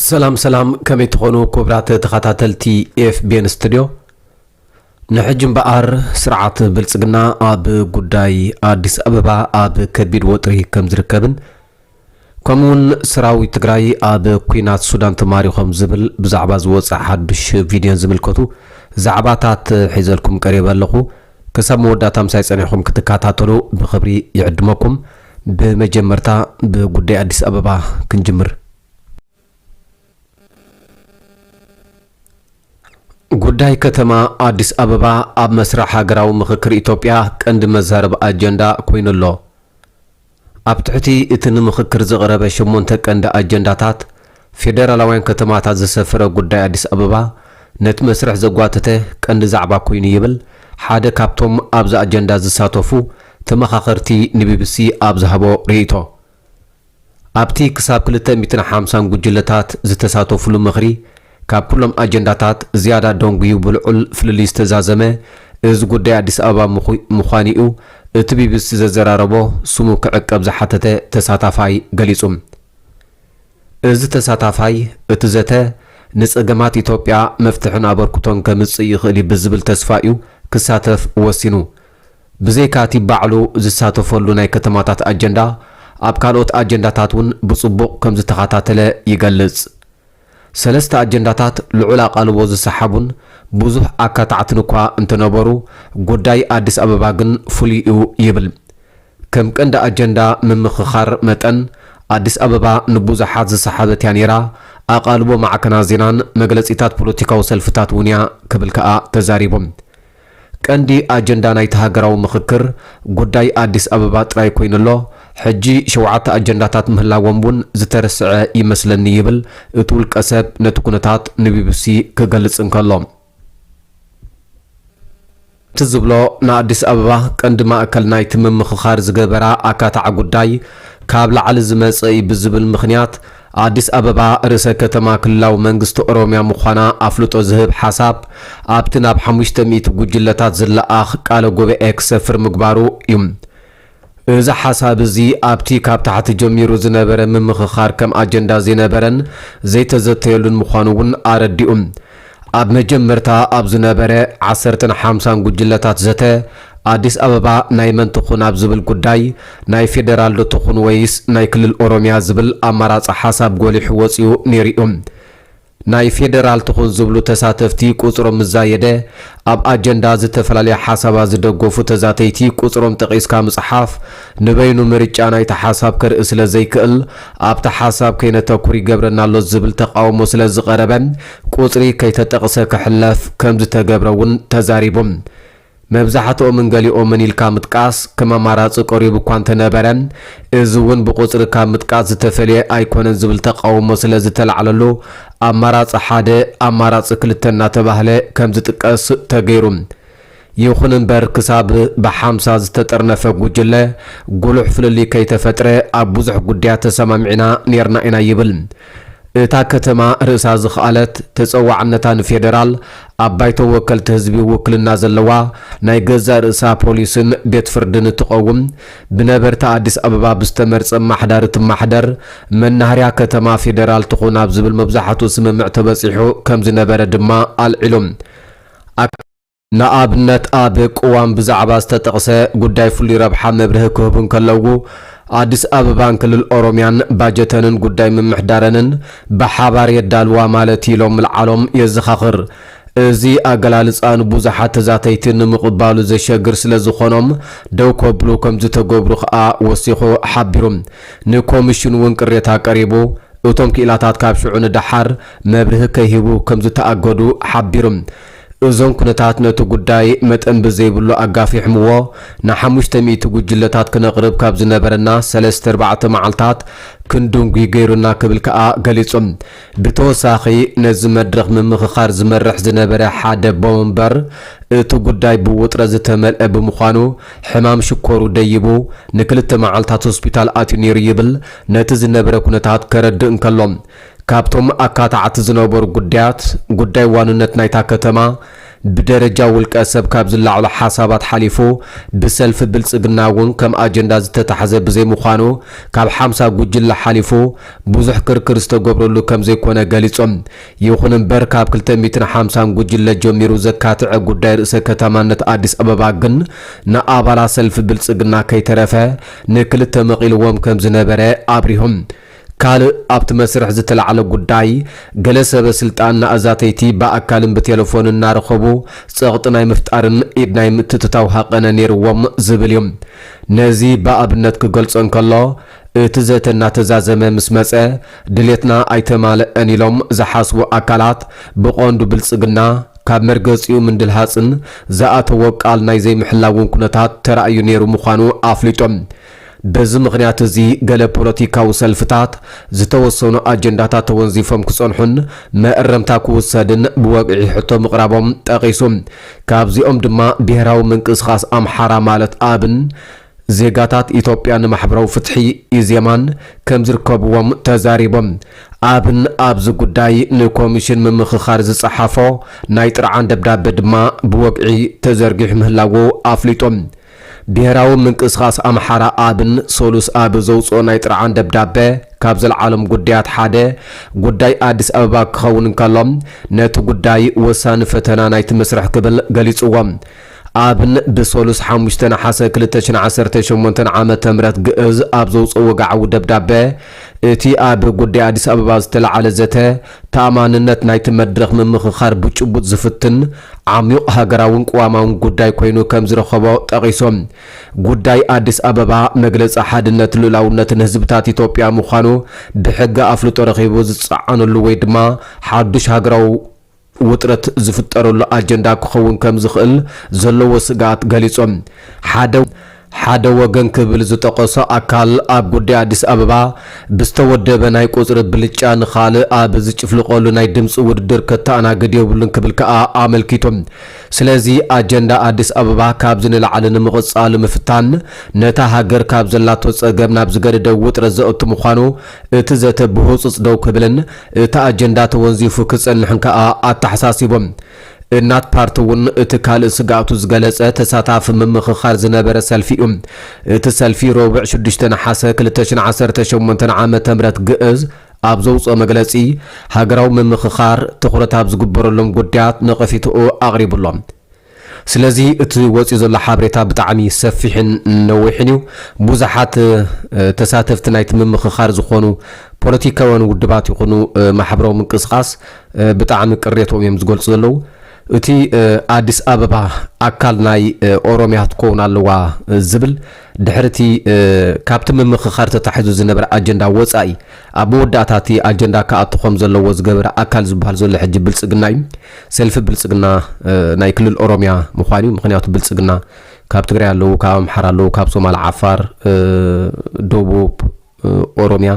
ሰላም ሰላም ከመይ ትኾኑ ክቡራት ተኸታተልቲ ኤፍቤን ስቱድዮ ንሕጂ እምበኣር ስርዓት ብልፅግና ኣብ ጉዳይ ኣዲስ ኣበባ ኣብ ከቢድ ወጥሪ ከም ዝርከብን ከምኡ'ውን ሰራዊት ትግራይ ኣብ ኲናት ሱዳን ተማሪኾም ዝብል ብዛዕባ ዝወጸ ሓዱሽ ቪድዮን ዝምልከቱ ዛዕባታት ሒዘልኩም ቀሪበ ኣለኹ። ክሳብ መወዳእታ ምሳይ ጸኒሕኩም ክትከታተሉ ብኽብሪ ይዕድመኩም። ብመጀመርታ ብጉዳይ ኣዲስ ኣበባ ክንጅምር። ጉዳይ ከተማ ኣዲስ ኣበባ ኣብ መስርሕ ሃገራዊ ምኽክር ኢትዮጵያ ቀንዲ መዛረቢ ኣጀንዳ ኮይኑ ኣሎ። ኣብ ትሕቲ እቲ ንምኽክር ዝቐረበ ሸሞንተ ቀንዲ ኣጀንዳታት ፌደራላውያን ከተማታት ዘሰፈረ ጉዳይ ኣዲስ ኣበባ ነቲ መስርሕ ዘጓተተ ቀንዲ ዛዕባ ኮይኑ ይብል ሓደ ካብቶም ኣብዚ ኣጀንዳ ዝሳተፉ ተመኻኸርቲ ንቢቢሲ ኣብ ዝሃቦ ርእይቶ። ኣብቲ ክሳብ ክልተ ሚእትን ሓምሳን ጉጅለታት ዝተሳተፉሉ ምኽሪ፣ ካብ ኩሎም ኣጀንዳታት ዝያዳ ደንጉዩ ብልዑል ፍልልይ ዝተዛዘመ እዚ ጉዳይ ኣዲስ ኣበባ ምዃኑ'ዩ እቲ ቢቢሲ ዘዘራረቦ ስሙ ክዕቀብ ዝሓተተ ተሳታፋይ ገሊጹ። እዚ ተሳታፋይ፣ እቲ ዘተ ንጸገማት ኢትዮጵያ መፍትሕን ኣበርክቶን ከምጽእ ይኽእል'ዩ ብዝብል ተስፋ'ዩ ክሳተፍ ወሲኑ። ብዘይካ እቲ ባዕሉ ዝሳተፈሉ ናይ ከተማታት ኣጀንዳ፣ ኣብ ካልኦት ኣጀንዳታት እውን ብጽቡቕ ከም ዝተኸታተለ ይገልጽ። ሰለስተ ኣጀንዳታት ልዑል ኣቓልቦ ዝሰሓቡን ብዙሕ ኣካታዕትን እኳ እንተነበሩ፣ ጉዳይ ኣዲስ ኣበባ ግን ፍሉይ እዩ ይብል። ከም ቀንዲ ኣጀንዳ ምምኽኻር መጠን፣ ኣዲስ ኣበባ ንብዙሓት ዝሰሓበት እያ ነይራ፣ ኣቓልቦ ማዕከናት ዜናን መግለጺታት ፖለቲካዊ ሰልፍታት እውን እያ ክብል ከኣ ተዛሪቡ። ቀንዲ ኣጀንዳ ናይቲ ሃገራዊ ምኽክር ጉዳይ ኣዲስ ኣበባ ጥራይ ኮይኑ ኣሎ፣ ሕጂ ሸውዓተ ኣጀንዳታት ምህላዎም እውን ዝተረስዐ ይመስለኒ ይብል እቲ ውልቀሰብ ነቲ ኩነታት ንቢቢሲ ክገልጽ እንከሎ። እቲ ዝብሎ ንኣዲስ ኣበባ ቀንዲ ማእከል ናይቲ ምምኽኻር ዝገበራ ኣካታዒ ጉዳይ ካብ ላዕሊ ዝመጸ እዩ ብዝብል ምኽንያት፣ ኣዲስ ኣበባ ርእሰ ከተማ ክልላዊ መንግስቲ ኦሮሚያ ምዃና ኣፍልጦ ዝህብ ሓሳብ ኣብቲ ናብ ሓሙሽተ ሚእቲ ጉጅለታት ዝለኣኽ ቃለ ጉባኤ ክሰፍር ምግባሩ እዩ። እዚ ሓሳብ እዚ ኣብቲ ካብ ታሕቲ ጀሚሩ ዝነበረ ምምኽኻር ከም ኣጀንዳ ዘይነበረን ዘይተዘተየሉን ምዃኑ እውን ኣረዲኡ። ኣብ መጀመርታ ኣብ ዝነበረ ዓሰርተን ሓምሳን ጉጅለታት ዘተ፣ ኣዲስ ኣበባ ናይ መን ትኹን ኣብ ዝብል ጉዳይ፣ ናይ ፌደራልዶ ትኹን ወይስ ናይ ክልል ኦሮሚያ ዝብል ኣማራጺ ሓሳብ ጎሊሑ ወጺኡ ነይሩ'ዩ። ናይ ፌደራል ትኹን ዝብሉ ተሳተፍቲ ቁጽሮም ምስ ዛየደ፣ ኣብ ኣጀንዳ ዝተፈላለየ ሓሳባት ዝደገፉ ተዛተይቲ ቁጽሮም ጠቒስካ ምጽሓፍ፣ ንበይኑ ምርጫ ናይቲ ሓሳብ ከርኢ ስለ ዘይክእል፣ ኣብቲ ሓሳብ ከይነተኩር ይገብረና ኣሎ ዝብል ተቓውሞ ስለ ዝቐረበ፣ ቁጽሪ ከይተጠቕሰ ክሕለፍ ከም ዝተገብረ'ውን ተዛሪቡ። መብዛሕትኦምን ገሊኦምን ኢልካ ምጥቃስ ከም ኣማራጺ ቀሪቡ እኳ እንተነበረ፣ እዚ'ውን ብቁጽሪ ካብ ምጥቃስ ዝተፈልየ ኣይኮነን ዝብል ተቓውሞ ስለ ዝተላዕለሉ፣ ኣማራጺ ሓደ፣ ኣማራጺ ክልተ እናተባህለ ከም ዝጥቀስ ተገይሩ። ይኹን እምበር ክሳብ ብሓምሳ ዝተጠርነፈ ጉጅለ ጉሉሕ ፍልልይ ከይተፈጥረ ኣብ ብዙሕ ጉዳያት ተሰማሚዕና ኔርና ኢና ይብል። እታ ከተማ ርእሳ ዝኸኣለት፣ ተፀዋዕነታ ንፌደራል፣ ኣብ ባይቶ ወከልቲ ህዝቢ ውክልና ዘለዋ፣ ናይ ገዛእ ርእሳ ፖሊስን ቤት ፍርድን እትቐውም፣ ብነበርቲ ኣዲስ ኣበባ ብዝተመርፀ ኣማሓዳሪ እትማሕደር፣ መናሃርያ ከተማ ፌደራል ትኹን ኣብ ዝብል መብዛሕትኡ ስምምዕ ተበፂሑ ከምዝነበረ ድማ ኣልዒሉ። ንኣብነት ኣብ ቅዋም ብዛዕባ ዝተጠቕሰ ጉዳይ ፍሉይ ረብሓ መብርሂ ክህቡ እንከለዉ፣ ኣዲስ ኣበባን ክልል ኦሮምያን ባጀተንን ጉዳይ ምምሕዳረንን ብሓባር የዳልዋ ማለት እዩ ኢሎም ምልዓሎም የዘኻኽር። እዚ ኣገላልፃ ንብዙሓት ተዛተይቲ ንምቕባሉ ዘሸግር ስለዝኾኖም ደው ከብሉ ከምዝተገብሩ ከኣ ወሲኹ ሓቢሩ። ንኮሚሽን እውን ቅሬታ ቀሪቡ እቶም ክኢላታት ካብ ሽዑ ንደሓር መብርሂ ከይህቡ ከምዝተኣገዱ ሓቢሩ። እዞም ኩነታት ነቲ ጉዳይ መጠን ብዘይብሉ ኣጋፊሕምዎ፣ ንሓሙሽተ ሚእቲ ጉጅለታት ክነቕርብ ካብ ዝነበረና ሰለስተ ኣርባዕተ መዓልታት ክንድንጒ ገይሩና ክብል ከኣ ገሊጹ። ብተወሳኺ ነዚ መድረኽ ምምኽኻር ዝመርሕ ዝነበረ ሓደ ኣቦመንበር፣ እቲ ጉዳይ ብውጥረት ዝተመልአ ብምዃኑ ሕማም ሽኮሩ ደይቡ ንክልተ መዓልታት ሆስፒታል ኣትዩ ነይሩ ይብል ነቲ ዝነበረ ኩነታት ከረድእ እንከሎ። ካብቶም ኣካታዕቲ ዝነበሩ ጉዳያት፣ ጉዳይ ዋንነት ናይታ ከተማ ብደረጃ ውልቀ ሰብ ካብ ዝለዓሉ ሓሳባት ሓሊፉ ብሰልፊ ብልጽግና እውን ከም ኣጀንዳ ዝተታሕዘ ብዘይምዃኑ ካብ ሓምሳ ጉጅለ ሓሊፉ ብዙሕ ክርክር ዝተገብረሉ ከምዘይኮነ ገሊጾም። ይኹን እምበር ካብ ክልተ ሚእትን ሓምሳን ጉጅለ ጀሚሩ ዘካትዐ ጉዳይ ርእሰ ከተማነት ኣዲስ ኣበባ ግን ንኣባላት ሰልፊ ብልጽግና ከይተረፈ ንክልተ መቒልዎም ከምዝነበረ ኣብሪሆም። ካልእ ኣብቲ መስርሕ ዝተላዕለ ጉዳይ፣ ገለ ሰበ ስልጣን ንኣዛተይቲ ብኣካልን ብቴለፎንን እናረኸቡ ጸቕጢ ናይ ምፍጣርን ኢድ ናይ ምትእትታው ሃቐነ ነይርዎም ዝብል እዩ። ነዚ ብኣብነት ክገልጾ እንከሎ፣ እቲ ዘተ እናተዛዘመ ምስ መጸ፣ ድሌትና ኣይተማለኣን ኢሎም ዝሓስቡ ኣካላት፣ ብቐንዱ ብልጽግና፣ ካብ መርገጺኡ ምንድልሃጽን ዝኣተዎ ቃል ናይ ዘይምሕላውን ኩነታት ተራእዩ ነይሩ ምዃኑ ኣፍሊጡ። በዚ ምኽንያት እዚ ገለ ፖለቲካዊ ሰልፍታት ዝተወሰኑ ኣጀንዳታት ተወንዚፎም ክጸንሑን መእረምታ ክውሰድን ብወግዒ ሕቶ ምቕራቦም ጠቒሱ። ካብዚኦም ድማ ብሄራዊ ምንቅስቓስ ኣምሓራ ማለት ኣብን ዜጋታት ኢትዮጵያ ንማሕበራዊ ፍትሒ፣ ኢዜማን፣ ከምዝርከብዎም ተዛሪቡ። ኣብን ኣብዚ ጉዳይ ንኮሚሽን ምምኽኻር ዝጸሓፎ ናይ ጥርዓን ደብዳበ ድማ ብወግዒ ተዘርጊሑ ምህላዉ ኣፍሊጡ። ብሄራዊ ምንቅስቓስ ኣምሓራ፣ ኣብን፣ ሰሉስ ኣብ ዘውጽኦ ናይ ጥርዓን ደብዳበ፣ ካብ ዘልዓሎም ጉዳያት ሓደ፣ ጉዳይ ኣዲስ ኣበባ ክኸውን እንከሎ፣ ነቲ ጉዳይ ወሳኒ ፈተና ናይቲ መስርሕ ክብል ገሊጽዎ። ኣብን፣ ብሰሉስ ሓሙሽተ ነሓሰ ክልተ ሽሕን ዓሰርተ ሸሞንተን ዓመተ ምህረት ግእዝ ኣብ ዘውጽኦ ወግዓዊ ደብዳበ፣ እቲ ኣብ ጉዳይ ኣዲስ ኣበባ ዝተላዕለ ዘተ፣ ተኣማንነት ናይቲ መድረኽ ምምኽኻር ብጭቡጥ ዝፍትን፣ ዓሚዩቕ ሃገራውን ቅዋማውን ጉዳይ ኮይኑ ከም ዝረኸቦ ጠቒሶም፣ ጉዳይ ኣዲስ ኣበባ መግለጺ ሓድነት ልኡላውነትን ህዝብታት ኢትዮጵያ ምዃኑ ብሕጊ ኣፍልጦ ረኺቡ ዝጸዓነሉ ወይ ድማ ሓዱሽ ሃገራዊ ውጥረት ዝፍጠረሉ ኣጀንዳ ክኸውን ከም ዝኽእል ዘለዎ ስግኣት ገሊጾም፣ ሓደ። ሓደ ወገን ክብል ዝጠቐሶ ኣካል ኣብ ጉዳይ ኣዲስ ኣበባ ብዝተወደበ ናይ ቁፅሪ ብልጫ ንኻልእ ኣብ ዝጭፍልቐሉ ናይ ድምፂ ውድድር ከተኣናግድ የብሉን ክብል ከዓ ኣመልኪቱ። ስለዚ ኣጀንዳ ኣዲስ ኣበባ ካብዚ ንላዕሊ ንምቕፃሉ ምፍታን ነታ ሃገር ካብ ዘላቶ ፀገም ናብ ዝገደደ ውጥረት ዘእቱ ምዃኑ እቲ ዘተ ብህፁፅ ደው ክብልን እቲ ኣጀንዳ ተወንዚፉ ክፀንሕን ከዓ ኣተሓሳሲቦም። እናት ፓርቲ እውን እቲ ካልእ ስግኣቱ ዝገለፀ ተሳታፊ ምምኽኻር ዝነበረ ሰልፊ እዩ። እቲ ሰልፊ ረቡዕ ሽዱሽተ ነሓሰ ክልተ ሽሕን ዓሰርተ ሸሞንተን ዓመተ ምህረት ግእዝ ኣብ ዘውፅኦ መግለፂ ሃገራዊ ምምኽኻር ትኹረት ኣብ ዝግበረሎም ጉዳያት ነቐፊትኡ ኣቕሪቡ ኣሎ። ስለዚ እቲ ወፂኡ ዘሎ ሓበሬታ ብጣዕሚ ሰፊሕን ነዊሕን እዩ። ብዙሓት ተሳተፍቲ ናይቲ ምምኽኻር ዝኾኑ ፖለቲካውያን ውድባት ይኹኑ ማሕበራዊ ምንቅስቓስ ብጣዕሚ ቅሬትኦም እዮም ዝገልፁ ዘለዉ። እቲ ኣዲስ ኣበባ ኣካል ናይ ኦሮሚያ ክትከውን ኣለዋ ዝብል ድሕሪ እቲ ካብቲ ምምኽኻር ተታሒዙ ዝነበረ ኣጀንዳ ወፃኢ ኣብ መወዳእታ እቲ ኣጀንዳ ክኣቱ ከም ዘለዎ ዝገበረ ኣካል ዝበሃል ዘሎ ሕጂ ብልፅግና እዩ። ሰልፊ ብልፅግና ናይ ክልል ኦሮሚያ ምዃን እዩ። ምኽንያቱ ብልፅግና ካብ ትግራይ ኣለዉ፣ ካብ ኣምሓራ ኣለዉ፣ ካብ ሶማል፣ ዓፋር፣ ደቡብ፣ ኦሮሚያ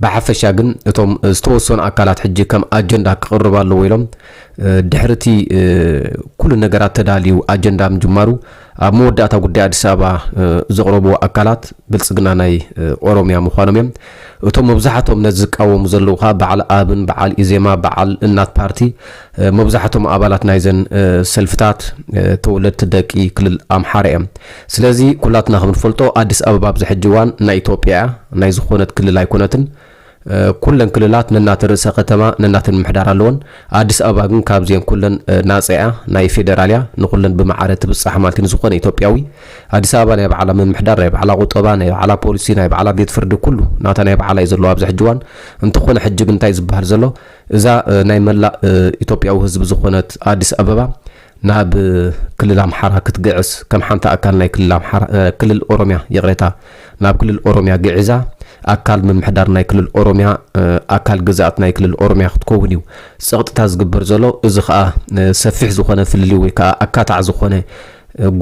ብሓፈሻ ግን እቶም ዝተወሰኑ ኣካላት ሕጂ ከም ኣጀንዳ ክቕርብ ኣለዎ ኢሎም ድሕሪ እቲ ኩሉ ነገራት ተዳልዩ ኣጀንዳ ምጅማሩ ኣብ መወዳእታ ጉዳይ ኣዲስ ኣበባ ዘቕረብዎ ኣካላት ብልፅግና ናይ ኦሮሚያ ምዃኖም እዮም። እቶም መብዛሕቶም ነዚ ዝቃወሙ ዘለዉ ከዓ በዓል ኣብን በዓል ኢዜማ በዓል እናት ፓርቲ መብዛሕቶም ኣባላት ናይዘን ሰልፍታት ተወለድቲ ደቂ ክልል ኣምሓራ እዮም። ስለዚ ኩላትና ከምንፈልጦ ኣዲስ ኣበባ ኣብዚ ሕጂ እዋን ናይ ኢትዮጵያ እያ፣ ናይ ዝኾነት ክልል ኣይኮነትን። ኩለን ክልላት ነናተን ርእሰ ከተማ፣ ነናተን ምምሕዳር ኣለወን። ኣዲስ ኣበባ ግን ካብዚኤን ኩለን ናጻ እያ፣ ናይ ፌደራል እያ፣ ንኹለን ብማዕረ ትብጻሕ ማለት እዩ ንዝኾነ ኢትዮጵያዊ። ኣዲስ ኣበባ ናይ ባዕላ ምምሕዳር፣ ናይ ባዕላ ቁጠባ፣ ናይ ባዕላ ፖሊሲ፣ ናይ ባዕላ ቤት ፍርዲ ኩሉ ናታ ናይ ባዕላ እዩ ዘለዎ ኣብዚ ሕጂ እዋን። እንተኾነ ሕጂ ግን እንታይ እዩ ዝበሃል ዘሎ? እዛ ናይ መላእ ኢትዮጵያዊ ህዝቢ ዝኾነት ኣዲስ ኣበባ ናብ ክልል ኣምሓራ ክትግዕዝ ከም ሓንቲ ኣካል ናይ ክልል ኦሮሚያ ይቕሬታ ናብ ክልል ኦሮሚያ ግዒዛ ኣካል ምምሕዳር ናይ ክልል ኦሮሚያ ኣካል ግዝኣት ናይ ክልል ኦሮሚያ ክትከውን እዩ ፀቕጥታ ዝግበር ዘሎ እዚ ከዓ ሰፊሕ ዝኾነ ፍልልይ ወይ ከዓ ኣካታዕ ዝኾነ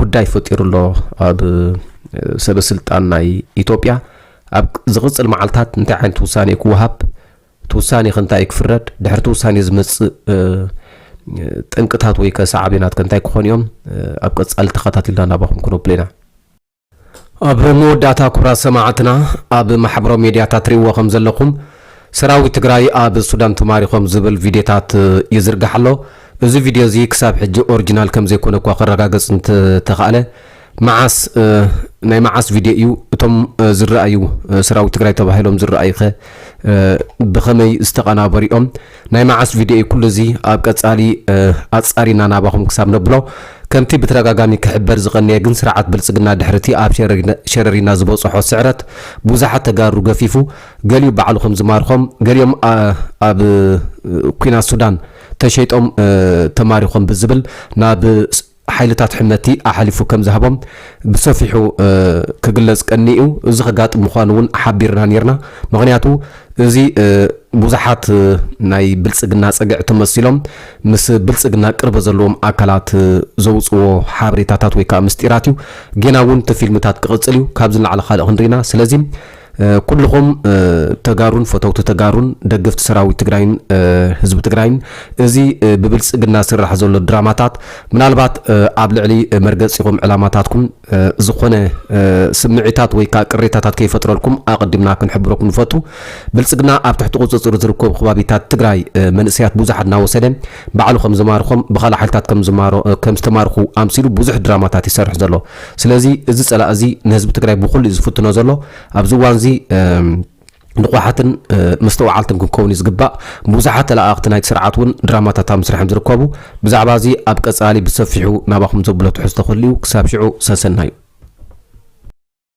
ጉዳይ ፈጢሩ ኣሎ ኣብ ሰበስልጣን ናይ ኢትዮጵያ ኣብ ዝቕፅል መዓልታት እንታይ ዓይነት ውሳኔ ክወሃብ እቲ ውሳኔ ከ እንታይ እዩ ክፍረድ? ድሕሪ እቲ ውሳኔ ዝመጽእ ጠንቅታት ወይ ከ ሰዓቤናት ከ እንታይ ክኾኑ እዮም? ኣብ ቀጻሊ ተኸታቲልና ናባኹም ክነብሎ ኢና። ኣብ መወዳእታ ኩብራት ሰማዕትና ኣብ ማሕበራዊ ሜድያታት ትሪእዎ ከም ዘለኹም ሰራዊት ትግራይ ኣብ ሱዳን ተማሪኾም ዝብል ቪድዮታት ይዝርጋሕ ኣሎ። እዚ ቪድዮ እዚ ክሳብ ሕጂ ኦርጂናል ከም ዘይኮነ እኳ ክረጋገጽ እንተ ተኻእለ፣ መዓስ ናይ መዓስ ቪድዮ እዩ? እቶም ዝረኣዩ ሰራዊት ትግራይ ተባሂሎም ዝረኣዩኸ ብኸመይ ዝተቐናበሩ እዮም? ናይ መዓስ ቪድዮ እዩ? ኩሉ እዚ ኣብ ቀፃሊ ኣፃሪና ናባኹም ክሳብ ነብሎ ከምቲ ብተደጋጋሚ ክሕበር ዝቐነየ ግን ስርዓት ብልፅግና ድሕሪ እቲ ኣብ ሸረሪና ዝበፀሖ ስዕረት ብዙሓት ተጋሩ ገፊፉ ገሊኡ ባዕሉ ከምዝማርኾም ገሊኦም ኣብ ኲናት ሱዳን ተሸይጦም ተማሪኾም ብዝብል ናብ ሓይልታት ሕመቲ ኣሓሊፉ ከም ዝሃቦም ብሰፊሑ ክግለጽ ቀኒዩ እዚ ከጋጥም ምዃኑ እውን ሓቢርና ኔርና። ምኽንያቱ እዚ ብዙሓት ናይ ብልጽግና ጸግዒ ተመሲሎም ምስ ብልጽግና ቅርበት ዘለዎም ኣካላት ዘውጽዎ ሓበሬታታት ወይ ከኣ ምስጢራት እዩ። ጌና እውን እቲ ፊልምታት ክቕጽል እዩ። ካብዚ ንላዕሊ ካልእ ክንሪኢና። ስለዚ ኩሉኹም ተጋሩን ፈተውቲ ተጋሩን ደገፍቲ ሰራዊት ትግራይን ህዝቢ ትግራይን እዚ ብብልፅግና ዝስራሕ ዘሎ ድራማታት ምናልባት ኣብ ልዕሊ መርገፂኹም ዕላማታትኩም ዝኾነ ስምዒታት ወይ ከዓ ቅሬታታት ከይፈጥረልኩም ኣቐዲምና ክንሕብረኩም ንፈቱ። ብልፅግና ኣብ ትሕቲ ቁፅፅር ዝርከቡ ከባቢታት ትግራይ መንእሰያት ብዙሓት እናወሰደ ባዕሉ ከምዝማርኾም ብካልእ ሓይልታት ከምዝማሮ ከምዝተማርኹ ኣምሲሉ ብዙሕ ድራማታት ይሰርሕ ዘሎ። ስለዚ እዚ ፀላኢ እዚ ንህዝቢ ትግራይ ብኹሉ እዩ ዝፍትኖ ዘሎ። ኣብዚ እዋን እዚ ንቑሓትን መስተውዓልትን ክንከውን እዩ ዝግባእ። ብዙሓት ተለኣኣኽቲ ናይቲ ስርዓት እውን ድራማታት ኣብ ምስራሕ እዮም ዝርከቡ። ብዛዕባ እዚ ኣብ ቀፃሊ ብሰፊሑ ናባኹም ዘብሎ ትሕዝቶ ክህሉ እዩ። ክሳብ ሽዑ ሰሰናዩ!